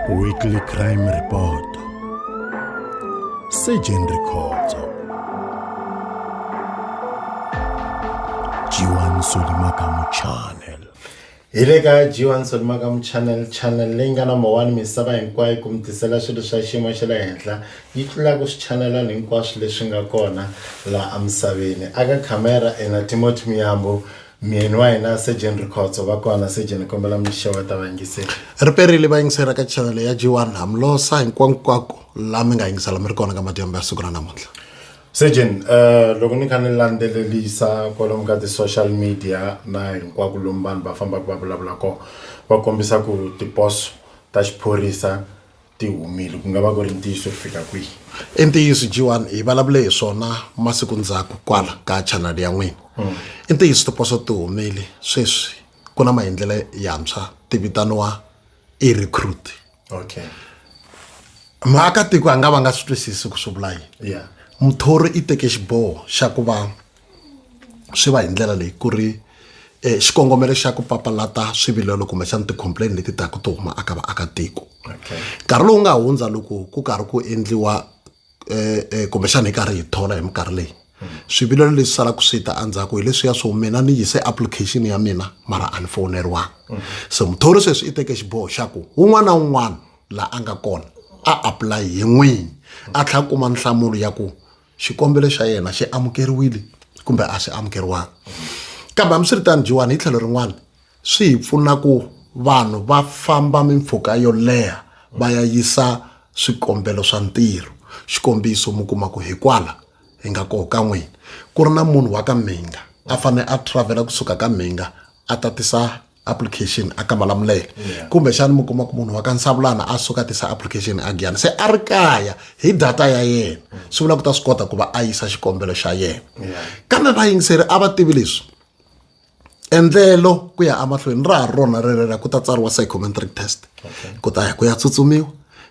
Weekly Crime Report Surgeon Rikhotso Jiwan Solimakamu Channel hi le ka Jiwan Solimakamu Channel channel leyi nga number 1 misava hinkwayo ku mi tisela swilo swa xiyimo xa le henhla yi tlulaka swichanelani hinkwaswo leswi nga kona laha emisaveni aka khamera ena Timothy Miyambo Myeni wa hina Sir Jane Rikhotso va kona Sir Jane ni kombela mi xeweta vayingiseri. ri perile vayingiseri ka channel ya g1 hamlosa hinkwankwako la mi nga yingisela mi ri kona ka madyambu ya siku ra namuntlha Sir Jane eh loko ni kha ni landzelelisa kwalomu ka ti-social media na hinkwako lomu vanhu va fambaka va vulavula kona va kombisa ku tiposo ta xiphorisa ti humile ku nga va ku ri ntiyiso ku fika kwihi i ntiyiso jiwani hi vulavule hi swona masiku ndzhaku kwala ka channel ya n'wina mm. i ntiyiso tiposo ti humile sweswi ku na maendlelo yantshwa ti vitaniwa i recruit okay maakatiko a nga va nga swi twisisi ku swi vula yini yeah. muthori i teke xiboho xa ku va swi va hi ndlela leyi ku ri xikongomelo xa ku papalata swivilelo kumbexana ti-complain leti taka ti huma aka vaakatiko nkarhi lowu nga hundza loko ku karhi ku endliwa um kumbexana hi karhi hi thola hi minkarhi leyi swivilelo leswi salaka swi ta endzhaku hi leswiya swo mina ni yise application ya mina mara a ni fowuneriwanga so muthori sweswi i teke xiboho xa ku un'wana na un'wana laha a nga kona a apply hi n'wini a tlhela kuma nhlamulo ya ku xikombelo xa yena xi amukeriwile kumbe a xi amukeriwanga kambe hambiswiritano jiwani hi tlhelo rin'wana swi hi pfuna ku vanhu va famba mimpfhuka yo leha va ya yisa swikombelo swa ntirho xikombiso mi kuma ku hi kwala hi nga koho ka n'wina ku ri na munhu wa ka mhinga a fanele a travel-a kusuka ka mhinga a tatisa application a kamalamulele yeah. kumbexana mi kuma ku munhu wa ka nsavulana a suka tisa application a giyana se a ri kaya hi data ya yena swi vula ku ta swi kota ku va a yisa xikombelo xa yena yeah. kambe vayingiseri a va tivi leswi endlelo ku ya emahlweni ra ha rona rerera ku ta tsariwa psychometric test okay. ku ta ya ku ya tsutsumiwa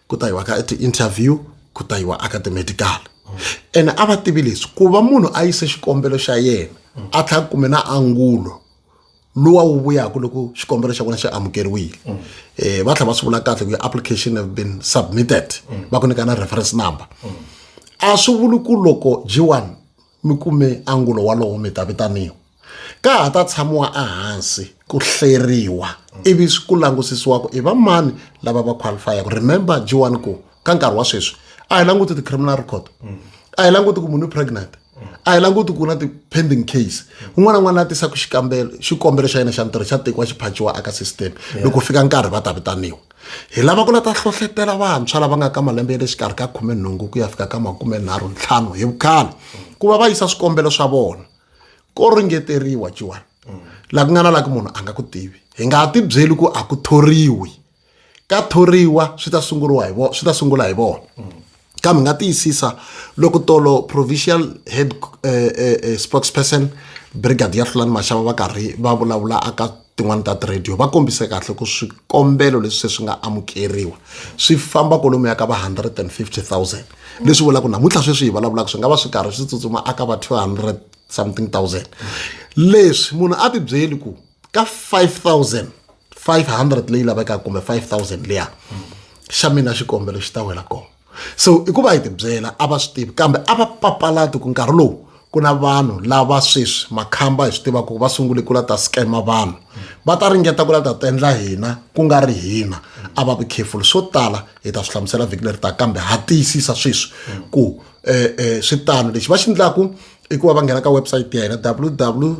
ku ta yiwa ka ti-interview ku ta yiwa aka ti-medical mm. ene a va tivi leswi ku va munhu a yise xikombelo xa yena mm. a tlhela ku kume na angulo lowa wu vuyaka loko xikombelo xa vona xi amukeriwile um va tlhela va swi vula kahle ku ya application have been submitted mm. va ku nyika na reference number mm. a swi vuli ku loko g one mi kume angulo walowo mi ta vitaniwa ka ha ta tshamiwa ehansi ku hleriwa ivi ku langusisiwa ku i va mani lava va qualifyaka remember g one ku ka nkarhi wa sweswi a hi languti ti-criminal record a hi languti ku munhu i pregnant a hi languti ku na ti-pending case un'wana na un'wana a tisaka xikambelo xikombelo xa yena xa ntirho xa tekiwa xi phachiwa aka system loko fika nkarhi va ta vitaniwa hi lava ku la ta hlohletela vantshwa lava nga ka malembe ya le xikarhi ka khume nhungu ku ya fika ka makume nharhu ntlhanu hi vukhale ku va va yisa swikombelo swa vona ko ringeteriwa jiwani laha ku nga na laha ku munhu a nga ku tivi hi nga ti byeli ku a ku thoriwi ka thoriwa swi ta sunguriwa hi vona swi ta sungula hi vona kambe nga tiyisisa loko tolo provincial head eh, eh, eh, spokesperson brigadier hlulani maxava va karhi va vulavula aka tin'wani ta tiradio va kombise kahle ku swikombelo leswi se swi nga amukeriwa swi famba kolomu ya ka va 150 000 leswi vulaka ku namuntlha sweswi hi vulavulaka swi nga va swi karhi swi tsutsuma aka va 200 something thousand leswi munhu a tibyeli ku ka 5000 500 leyi lavekaka kumbe 5000 liya xa mina xikombelo xi ta wela kona so i ku va hi tibyela a va swi tivi kambe a va papalati ku nkarhi lowu ku na vanhu lava sweswi makhamba hi swi tivaka ku va sungule ku la ta scama vanhu va ta ringeta ku la ta tendla hina ku nga ri hina a va vi careful swo tala hi ta swi hlamusela vhiki leri ta kambe ha tiyisisa sweswi ku um um swi tano lexi va xi endlaku i ku va va nghena ka website ya hina www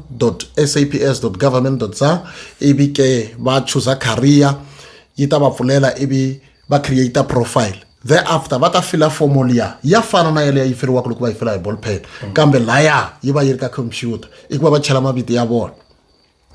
saps government za ivi ke va chuza career yi ta va pfulela ivi va create profile thereafter va ta fila fomo liya ya fana na yaleyo yi firiwaka loko va yi fila hi ball pen kambe laya yi va yi ri ka computer i ku va va chela mavito ya vona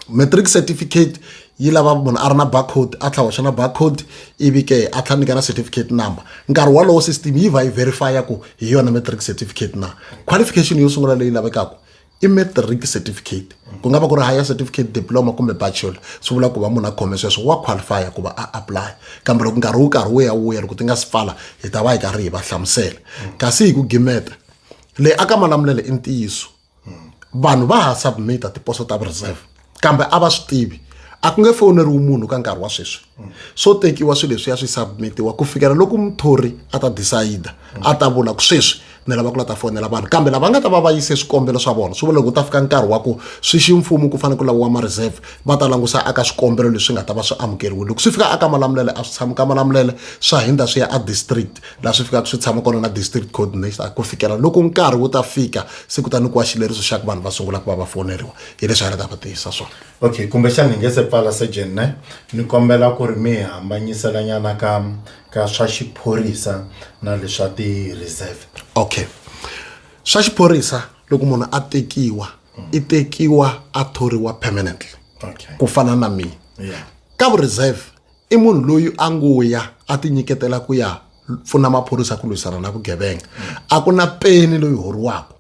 matric certificate yi lava munhu a ri na barcode a tlhela hoxa na barcode ivi ke a tlhela nyika na certificate number nkarhi wolowo system yi va yi verifya ku hi yona matric certificate na qualification yo sungula leyi lavekaka i matric certificate ku nga va ku ri higher certificate diploma kumbe bachelor swi vula ku va munhu a khome sweswo wa qualifya ku va a apply kambe loko nkarhi wu karhi wu ya wu ya loko ti nga si pfala hi ta va hi karhi hi va hlamusela kasi hi ku gimeta leyi aka malamulelo i ntiyiso vanhu va ha submita tiposo ta reserve kambe a va swi tivi a ku nge fowuneriwi munhu ka nkarhi wa sweswi swo tekiwa swilo leswi ya swi submitiwa ku fikela loko muthori a ta decide a ta vula ku sweswi ni lava ku la ta fonela vanhu kambe lava nga ta va va yise swikombelo swa vona swi vula loko ta fika nkarhi wa ku swi ximfumo ku fanele ku laviwa ma-reserve va ta langusa aka swikombelo leswi nga ta va swi amukeriwile loko swi fika aka malamulele a swi tshami ka malamulele swa hindza swi ya a district laha swi fikaka swi tshama kona na district coordinator ku fikela loko nkarhi wu ta fika se ku ta nyikiwa xileriso xa ku vanhu va sungula ku va va foneriwa hi leswi a ri ta va tiyisa swona okay kumbexana ni nge se pfala surgeon ne ni kombela ku ri mi hambanyiselanyana ka ka swa xiphorisa na leswa ti-reserve okay swa xiphorisa loko munhu a tekiwa i tekiwa a thoriwa permanently okay ku fana na mina yeah. ka vureserve i munhu loyi a ngo ya a ti nyiketela ku ya pfuna maphorisa ku lwisana na vugevenga a ku na peni loyi horiwaka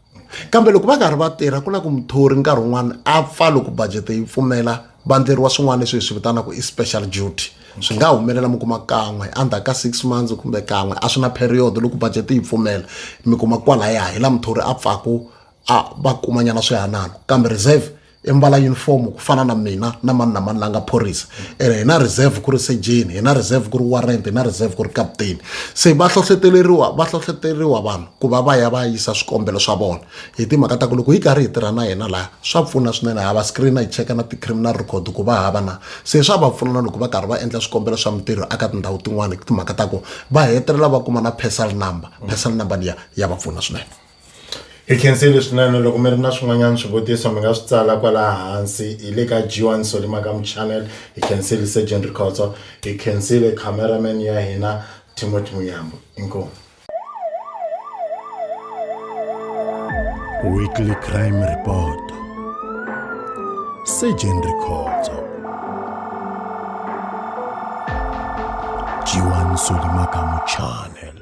kambe loko va karhi va tirha ku na ku muthori nkarhi wun'wana a pfa loko budgete yi pfumela va ndleriwa swin'wana leswi hi swi vitanaka i special duty swi nga humelela mi kuma kan'we endzhaku ka six months kumbe kan'we a swi na period loko budget yi pfumela mi kuma kwalaya hi la muthori a pfaku a va kumanyana swihanano kambe reserve i mbala yunifomo ku fana na mina na mani na mani la nga phorisa ene hi na reserve ku ri sejeni hi na reserve ku ri warrant hi na reserve ku ri kaputeni se va hlohleteleriwa va hlohleteleriwa vanhu ku va va ya va yisa swikombelo swa vona hi timhaka ta ku loko hi karhi hi tirha na yena laha swa pfuna swinene hava screena hi cheka na ti-criminal record ku va hava na se swa va pfuna na loko va karhi va endla swikombelo swa mintirho aka tindhawu tin'wani hi timhaka ta ku va hetelela va kuma na personal number personal number liya ya va pfuna swinene Hi khensile swinene loko mi ri na swin'wanyana swivutiso mi nga swi tsala kwala hansi hi le ka G1 Solly Makamu channel hi khensile Surgeon Rikhotso hi khensile cameraman ya hina Timothy Muyambo inkomu Weekly Crime Report Surgeon Rikhotso G1 Solly Makamu channel